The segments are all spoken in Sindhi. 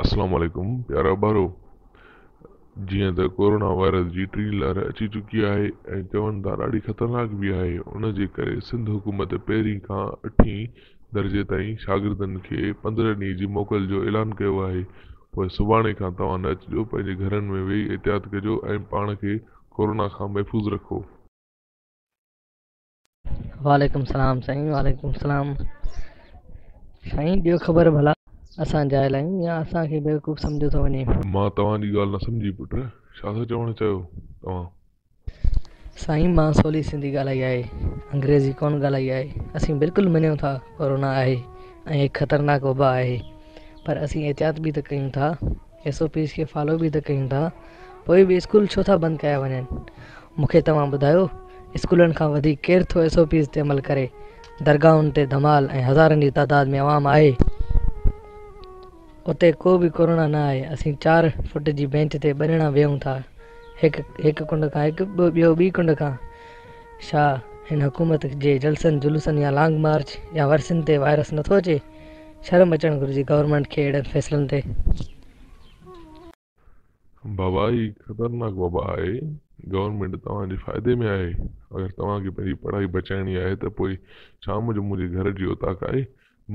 السلام عليڪم پيارا ٻارو جيئن ته ڪورونا وائرس جي ٽين لهر اچي چڪي آهي ۽ چون ٿا ڏاڍي خطرناڪ به آهي ان جي ڪري سنڌ حڪومت پهرين کان اٺين درجي تائين شاگردن کي پندرهن ڏينهن جي موڪل جو اعلان ڪيو آهي، پوء سڀاڻي کان توهان نه اچجو، پنهنجي گهرن ۾ ويهي احتياط ڪجو ۽ پاڻ کي ڪورونا کان محفوظ رکو. وعليڪم السلام سائين وعليڪم السلام سائين ڏيو خبر ڀلا اسان جاهل آهيون يا اسان کي بيوقوف سمجهيو ٿو وڃي. مان توهان جي ڳالهه نه سمجهي پٽ ڇا ٿا چوڻ چاهيو توهان. سائين مان سولي سنڌي ڳالهائي آهي انگريزي ڪون ڳالهائي آهي اسين بلڪل مڃيون ٿا ڪورونا آهي ۽ هڪ خطرناڪ وبا آهي پر اسين احتياط به ته ڪيون ٿا ايس او پيز کي فالو به ته ڪيون ٿا پوء به اسڪول ڇو ٿا بند ڪيا وڃن مونکي توهان ٻڌايو اسڪولن کان وڌيڪ ڪير ٿو ايس او پيز تي عمل ڪري درگاهن تي ڌمال ۽ هزارن جي تعداد ۾ عوام آهي اتي ڪو به ڪورونا نه آهي اسين چار فٽ جي بينچ تي ٻه ڄڻا ويهون ٿا هڪ هڪ ڪنڊ کان هڪ ٻيو ٻي ڪنڊ کان ڇا هن حڪومت جي جلسن جلوسن يا لانگ مارچ يا ورسين تي وائرس نٿو اچي شرم اچڻ گهرجي گورنمينٽ کي اهڙن فيصلن تي بابا هي خطرناڪ وبا آهي گورنمينٽ توهان جي فائدي ۾ آهي اگر توهان کي پنهنجي پڙهائي بچائڻي آهي ته پوء شام جو منهنجي گهر جي اوطاق آهي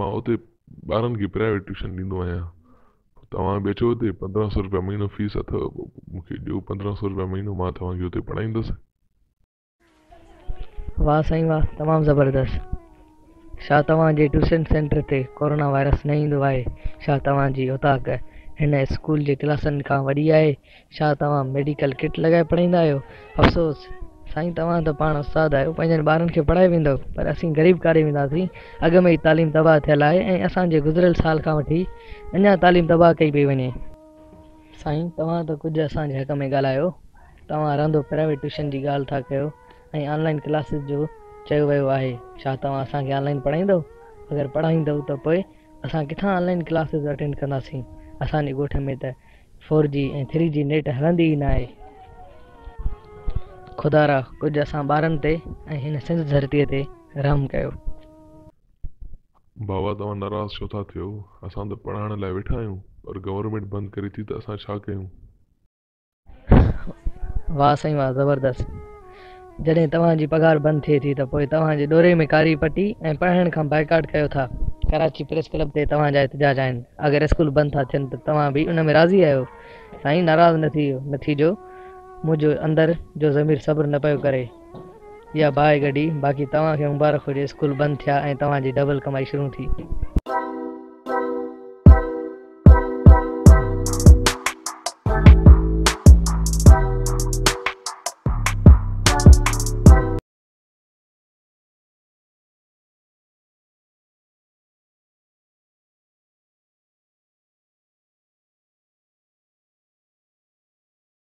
مان اتي ٻارن کي پرائيويٽ ٽيوشن ڏيندو آهيان توهان به اچو اتي پندرهن سو روپيا مهينو فيس اٿو مون کي ڏيو پندرهن سو روپيا مهينو مان توهان کي اتي پڙهائيندس. واه سائين واه تمام زبردست شا توهان جي ٽيوشن سينٽر تي ڪورونا وائرس نه ايندو آهي شا توهان جي اوطاق هن اسڪول جي ڪلاسن کان وڏي آهي شا توهان ميڊيڪل ڪٽ لڳائي پڙهائيندا آهيو افسوس سائين توهان ته پاڻ استاد آهيو پنهنجن ٻارن کي پڙهائي ويندؤ پر اسين غريب ڪاري وينداسين اڳ ۾ ئي تعليم تباهه ٿيل آهي ۽ اسان جي گذريل سال کان وٺي اڃا تعليم تباهه ڪئي پئي وڃي سائين توهان ته ڪجهه اسان جي حق ۾ ڳالهايو، توهان رهندو پرائيويٽ ٽيوشن جي ڳالهه ٿا ڪيو ۽ آن لائين ڪلاسز جو چيو ويو آهي، ڇا توهان اسان کي آن لائين پڙهائيندؤ؟ اگر پڙهائيندؤ ته پوء اسان ڪٿان آن لائين ڪلاسز اٽينڊ ڪنداسين، اسان جي ڳوٺ ۾ ته four G ۽ three G net هلندي ئي ناهي. خدارا ڪجهه اسان ٻارن تي ۽ هن سنڌ ڌرتي تي رحم ڪيو. بابا توهان ناراض ڇو ٿا ٿيو اسان ته پڙهائڻ لاء ويٺا آهيون پر گورنمينٽ بند ڪري ٿي ته اسان ڇا ڪيون. واه سائين واه زبردست جڏهن توهان جي پگهار بند ٿئي ٿي ته پوء توهان جي ڏوري ۾ ڪاري پٽي ۽ پڙهائڻ کان بائيڪاٽ ڪيو ٿا ڪراچي پريس ڪلب تي توهان جا احتجاج آهن اگر اسڪول بند ٿا ٿين ته توهان به ان ۾ راضي آهيو سائين ناراض نه ٿي جو منهنجو اندر جو ضمير صبر نه پيو ڪري يا باهه گڏي باقي توهان کي مبارڪ هجي اسڪول بند ٿيا ۽ توهان جي ڊبل ڪمائي شروع ٿي.